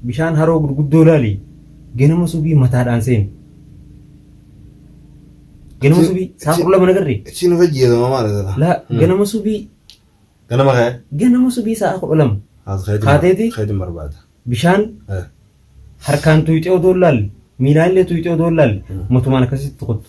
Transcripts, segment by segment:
Bishaan haroo gurguddoo ilaali. Ganama subii mataadhaan seeni. Ganama subii saa kudha lama nagarre. Siin of ajjeesama maal jedha? Laa ganama subii Ganama ka'e. ganama subii sa'a kudha lama Haas keetiin Kaateeti? keetiin barbaada. bishaan Eh. harkaan tuyxee odoo hin laalle miilaan illee tuyxee odoo hin laalle matumaan akkasitti kottu.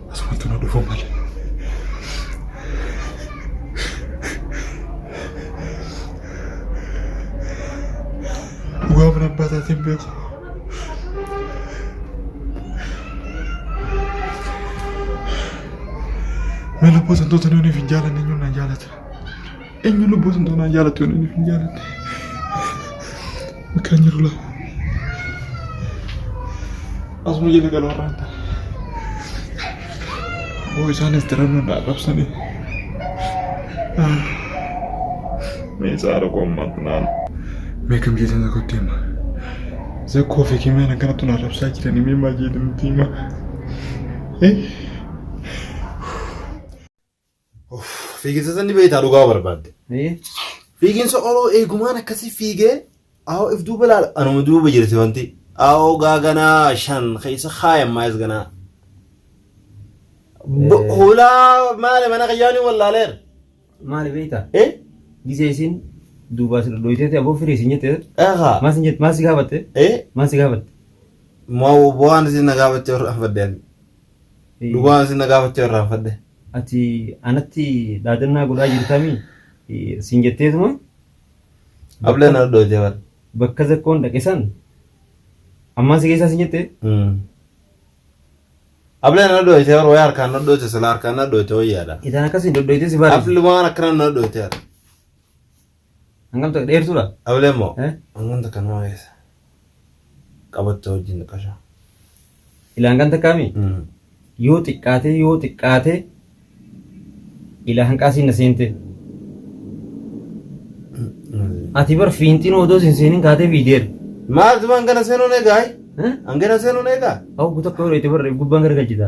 Asumatti nu dhufu malee. Dhugaa mana abbaa taatee hin beeku. Mee lubbuu santoota nuuniif hin jaalanne eenyuun na jaalata? Eenyu lubbuu sun tanaan jaalatti yoon inni hin jaalanne. Bakka hin jiru laa. Asuma jala galoo irraa hin taane. Boo isaanis darabna naa qabsanii. Mee saara koo ammaatti naan. Mee kam jeetan tokkotti hima. Zakkoo fi kimeen akkanatti naa rabsaa jiranii mee maal jeetan nutti hima. Eh? Fiiginsa sanni beektaa dhugaa barbaadde. Fiiginsa oloo eegumaan akkasii fiigee aawoo if duuba laala anuma duuba jirti wanti aawoo gaaganaa shan keessa kaayan maayis ganaa. Hulaa maali mana kiyyaanii wallaaleera. Maali beektaa? Eh? Gisee isin duubaa si dhodhooyteeti aboo firii isin jette. Eegaa. Maal isin jette? Maal si gaafatte? Eh? Maal si gaafatte? Moo waan isin na gaafatte irraa faddean. Dhugaa isin na gaafachuu irraanfadhe. Ati anatti dhaadannaa godhaa jirtamii siin jetteetuma. Ablee na dhoote bar. Bakka zakkoon dhaqe san ammaan si keessaa siin jette. Ablee na dhoote bar wayii harkaan na dhoote sila harkaan na dhoote wayyaadha. Itaan akkasii dhodhoytee si bareedu. Ablumaan akkana na dhoote bar. Hangam ta'e dheertuudha? Ablee moo Eh? hangam takka nama keessa qabattoo wajjin xiqqasho. Ila hangam takkaami? Yoo xiqqaatee yoo xiqqaatee ila hanqaasiin na seente. Ati bar fiinxiin odoo sin seenin kaatee fiideera. Maal tuma hangana seenuun eegaa? Eh? Hangana seenuun eegaa? Hawwu tokko yeroo itti barreef gubbaan garagalchita.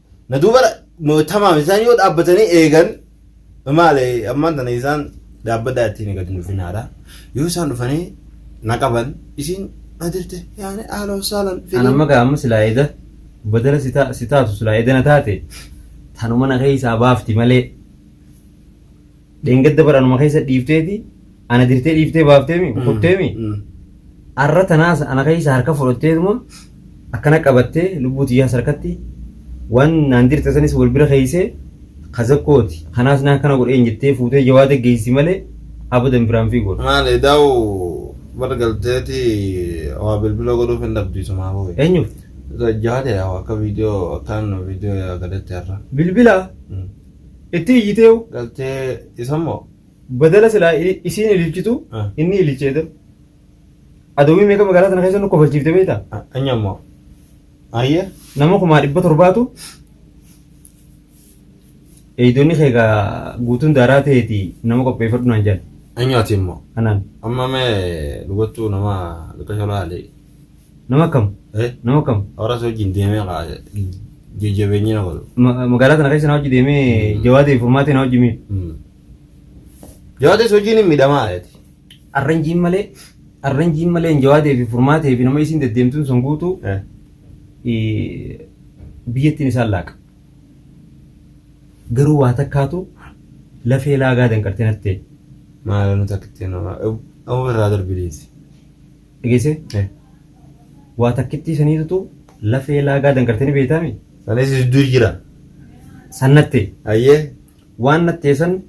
Na duuba tamaam isaan yoo dhaabbatanii eegan maale ammaan tana isaan dhaabbadaa ittiin gadi dhufinaadha. Yoo isaan dhufanii na qaban isiin na dirte yaani haala hosaalan Kan amma gaa amma silaa eda badala si taa- si taatu silaa edana taate tanuma na keessaa baafti malee Dheengadda bara anuma keessa dhiifteeti ana dirtee dhiiftee baafteemi kutteemi arra tanaas ana keessa harka fudhatteetuma akkana qabattee lubbuu tiyyaas harkatti waan naan dirte sanis wal bira keeysee kazakkooti kanaas naa akkana godheen jettee fuutee jawaada geessi malee abadan biraan fiigoodha. Maal edaa'u bar galteeti waa bilbila godhuuf hin dhabdiisumaa hoo. Eenyuuf? Jawaada yaa akka viidiyoo akkaan viidiyoo yaa galetti har'a. Bilbila Itti iyyiteehu. Galtee isa immoo. Badala silaa isiin ililchitu inni ililchee dal. Adawwii meeqa magaalaa sana keessa nu kofalchiifte beekta? Anyi ammoo. Ayyee. Nama kumaa dhibba torbaatu eeydonni kee egaa guutuun daaraa ta'eeti nama qopheeffadhu naan jedhan. Anyi ati immoo. Anaan. Amma mee dhugattuu nama bakka sholaa alee. Nama akkam? Eh? Nama akkam? Horas wajjin deemee kaa jajjabeenyi na godhu. Ma- Magaalaa kana keessa na hojii deemee jawaadee furmaatee na hojii miidhu. Jawaadees wajjin hin miidhamaa jeeti. Arranjiin malee arranjiin malee hin jawaadee fi furmaatee fi nama isiin deddeemtuun sun guutuu Eh? eh, biyyattiin isaan laaqa. Garuu waa takkaatu lafee laagaa danqartee natti ta'e. Maala nu takkitti nama. Amma irraa darbi deessi. Dhageesse? Eh. Waa takkittii saniitutu lafee laagaa dangartee ni beektaami? Sanis jidduu jira. San nattee. Ayyee. Waan nattee san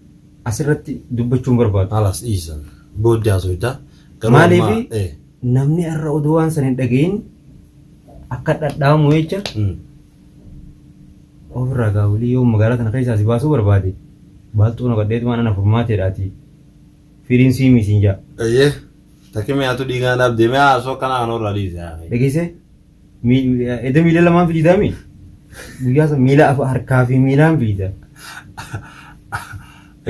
asirratti dubbachuun barbaadu. Halas dhiisa. Booddee haasofta. Garuu ammaa- Maaliif Eh. namni irra oduu waan san hin dhagayin akka dhadhaamu jecha Mm. ofirraa gaawulii yoo magaalaa tana keessaa si baasuu barbaade baaltuu naqadheetumaan ana furmaateedhaati Firiin sii mii siin jaa. Eyyee. Takki mi'aatu dhiigaa naaf deemee haasoo akkanaa kan horraa dhiise haa. Dhageessee? Mi- mi- Edda miila lamaan fiidaa mii? Guyyaa san miila afa harkaa fi miilaan fiida.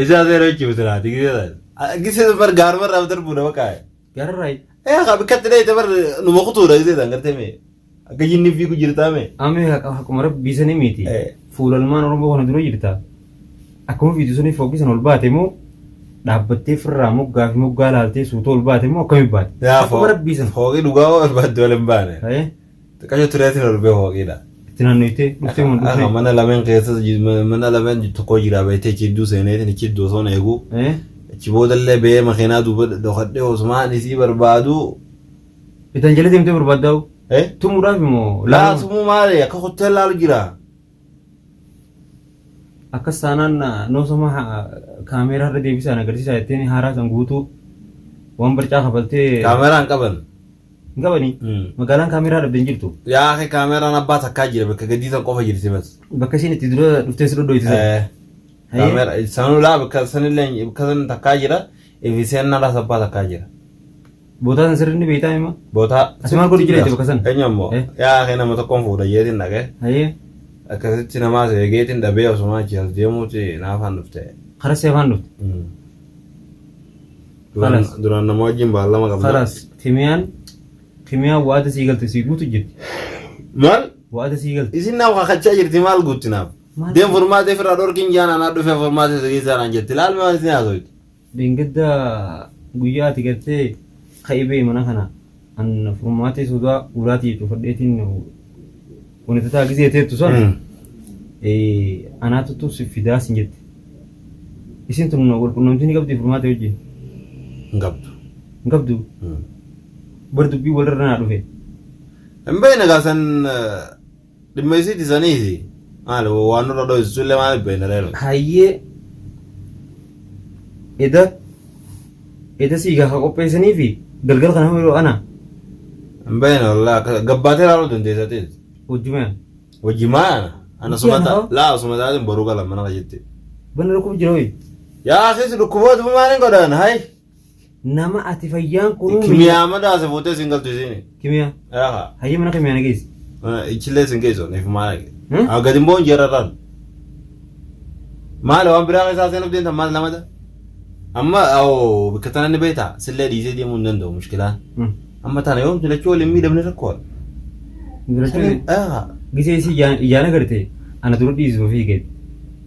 Isaa seera jechuun bisilaa ati gisee taate. Gisee bar gaaruma irraa darbuudha bakka. Garraay. Eh ka bikkatti dheeyte bar numa kutuudha isee isaan gartee mee. Akka jinni fiigu jirtaa mee. Amee haqa haquma rabbii sanii miti. Eh. Fuulalmaan Oromoo kana dura jirta. Akkuma fiitu sanii fookkisan ol baate moo dhaabbattee firraa moggaa fi moggaa laaltee suuta ol baate moo akkami baate? Yaa Haquma rabbii sana. Fooqii dhugaa barbaadde wal hin baane. Eh. Xiqqasho tureetiin ol bee hooqiidha. Itti naannoyte dhuftee mun Akka dhufne. mana lameen keessa ji- ma- mana lameen tokko jira beektee achi hedduu seeneetiin achi hedduu osoon eegu. Eh? Achi boodallee bee makiinaa duuba dhokadhee osumaan isii barbaadu. Itan jala deemtee barbaaddaa'u. Eh? Tumuudhaaf immoo Laa sumuu maali akka kuttee laalu jira. akkas taanaan noosama kaameeraa irra deebisaa na agarsiisaa jetteen haaraa san guutuu waan barcaa kafaltee Kaameraan qaban. Hin qabanii? Mm. Magaalaan kaameeraa dhabde hin jirtu. Yaa akhi kaameraan abbaa takkaa jira bakka gaddii san qofa jirti bas. Bakka isiin itti dura dhuftee si dhodhooyte sana. Eh, Hayyee. Kaamera sanuu laa bakka sanillee bakka san takkaa jira. Ifi seennaa laas abbaa takkaa jira. Bootaa san sirrii ni beektaa hima? Bootaa. Ati maal godhu jiraate bakka sana? Eenyu ammoo? Eh. Yaa akhi nama tokkoon fuudha jeetiin dhaqee. Hayyee. Akkasitti namaa seegeetiin dhabee osuma achi as deemuuti naafaan dhufte. Karaa seefaan dhufte. Mm. Duraan Kalas. duraan nama wajjin baallama qabna. Kalas kimiyaan kimiyaan waada sii galte sii guutu jirti. Maal? Waada sii galte. Isin naaf kakachaa jirti maal guutti naaf? Maal? Deem furmaatee firraa dhorkiin jaan anaa dhufee furmaatee isa keessaa naan jetti. Laal maal isin haasofti? Dingidda guyyaa ati galtee ka'ibee mana kana an furmaatee sodaa ulaatii cufadheetiin wanitataa gizee teettu san anaatu tun si fidaa sin jette isin tun walqunnamtii ni qabdi furmaatee wajjin hin qabdu. hin qabdu bar dubbii walirra naa dhufe Hin beekne gaa san Dhimma isii dhisaniiti. Maali waan nurra dho'istu illee maaliif beekna reerra. Hayyee eda eda sii gaafa qopheessanii fi galgala kana hoo yeroo ana Hin beekne wallaa akka gabbaatee ilaaluu dandeessa ta'es. wajjumeen Wajji maal ana? Ana Wajji sumata ana hoo? laa osuma taatiin boruu gala mana kiyyaatti. banni rakkoo jira hoyi. Yaa akis dhukkuboota maaliin godhan hayi. Nama ati fayyaan kunuu Kimiyaa madaa se fuutee sin galtu isiin. Kimiyaa. Aha. Hayyee mana kimiyaa na geessi. Ichillee sin geessu niif maal. Hmm? Haa gadi immoo hin jeerarraan. Maal waan biraa keessaa seenuuf deemtan maal lamada? Amma oo bakka tana ni beektaa sillee dhiisee deemuu hin danda'u mushkilaa. Hmm. Amma tana yoom filachuu waliin miidhamne rakkoo. Girachuun Aha. gisee isii ijaan- ijaan agartee ana dura dhiisuu fi gadi.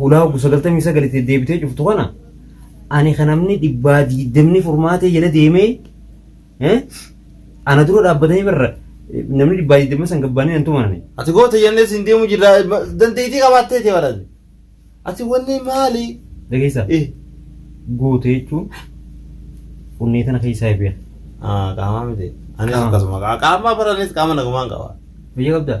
hulaa oggu sagaltamii sagal itti deebitee cuftu kana ani kan namni dhibbaa diidamni furmaatee jala deemee eh, ana dura dhaabbatanii barra eh, namni dhibbaa diidamni san gabbaanii nan tumanani. Ati goota jennee siin deemu jirra dandeettii qabaattee ta'e barate. Ati wanni maali? Dhageessaa Eh. goota jechuun onnee tana keessaa eebi'a. Ah, qaamaa miti. Anis Qaama. akkasuma. Qaamaa baranis qaama nagumaan qaba. Biyya qabdaa?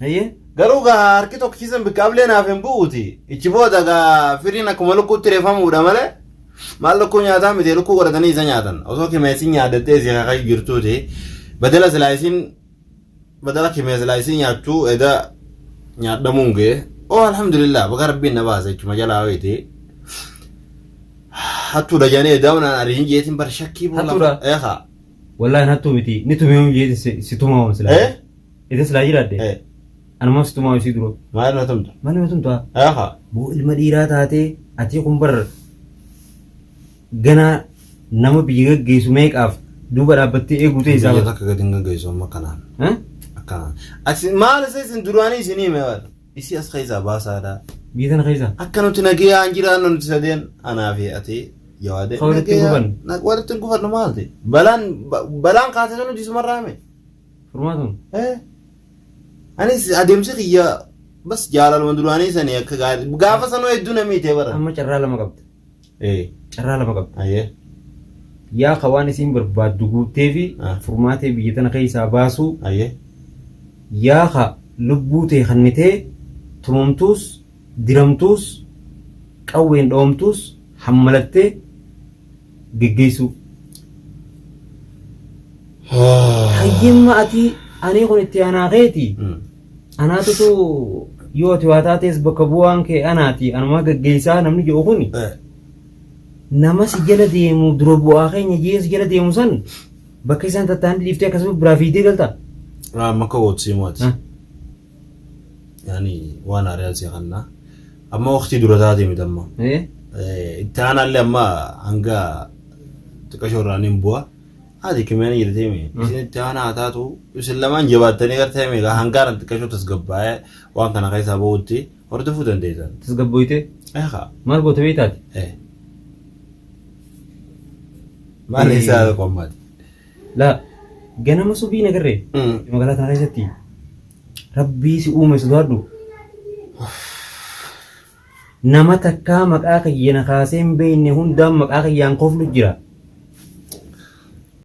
Hayyee. Garuu gaa harki tokko ciisan bikka ablee naaf hin bu'uuti. Ichi booda gaa firiin akkuma lukkuutti reefamuudha malee maal lukkuu nyaataa miti lukkuu godhatanii isa nyaatan. Osoo kimeessin nyaaddattee isii kakayyu jirtuuti. Badala silaa isiin badala kimees silaa isiin nyaattuu eda nyaadhamuun ga'e. Oo alhamdulillah baga rabbiin na baasa jechuma jalaa wayiiti. Hattuu dajanee edaa'uun aan ariin jeetiin bar shakkii boolla. Hattuudha? Eekaa. Wallaahi hattuu miti ni tumeemuun jeetiin si tumamuun silaa. Eh? Ita silaa jiraadde Eh, anuma situmaa isii dura. maal na tumta? Mali matum ta'a. Aha. Boo ilma dhiiraa taatee atii kun bar ganaa nama biyya gaggeessu meeqaaf duuba dhaabbattee eeguu ta'e isaa Biyya bara. takka gadi hin gaggeessu amma kanaan. Eh? Akkanaan. Ati maal isa isin duraanii isin hime waan? Isii as keessaa baasaadha. Biyya tana keessa. Akka nuti nagayaan jiraannu nuti sadeen anaa fi ati yawaadee. Ka walitti hin gufanne. Walitti hin gufannu maalti? Balaan ba- balaan kaasee sun hojii sumarraa hime. Furmaatuun. Eh, Anis adeemsi kiyya bas jaalaluma duraanii sanii akka gaarii gaafa sanuu hedduu namii ta'e bara. Amma carraa lama qabda. Eh, Carraa lama qabda. ayyee. Yaa ka waan isiin barbaaddu guuttee fi Ah. furmaatee biyya tana keessaa baasuu Ayyee. yaa ka lubbuu tee kannitee tumamtuus diramtuus, qawween dhawamtuus hammalattee geggeessuu. Hayyimma ati anii kun itti aanaa keeti. Anaatutu yoo ati waa taatees bakka bu'aan kee anaati anumaa geggeessaa namni jedhu kuni. nama si jala deemu dura bu'aa keenya jee si jala deemu san bakka isaan tattaan dhiiftee akkasuma biraa fiidee galta. Maka wotsiimoti. yani waan haariyaan si kanna amma waqtii dura taate miti amma Eh? Eh, itti aanaallee amma hanga xiqqashoo irraa nin bu'a haati kimiyaan jirtee mi isin itti aanaa haa taatu isin lamaan jabaattanii gartee mi hangaaran xiqqashoo tasgabbaa'ee waan kana keessaa ba'utti hordofuu dandeessan Tasgabboyte? eeqa Maal goote beektaati? eh maal isaa qommaati La ganama subii nagarre magaalaa tana keessatti rabbii si uume sodaadhu. Nama takkaa maqaa kiyya na kaasee hin beekne hundaan maqaa kiyyaan koflu jira.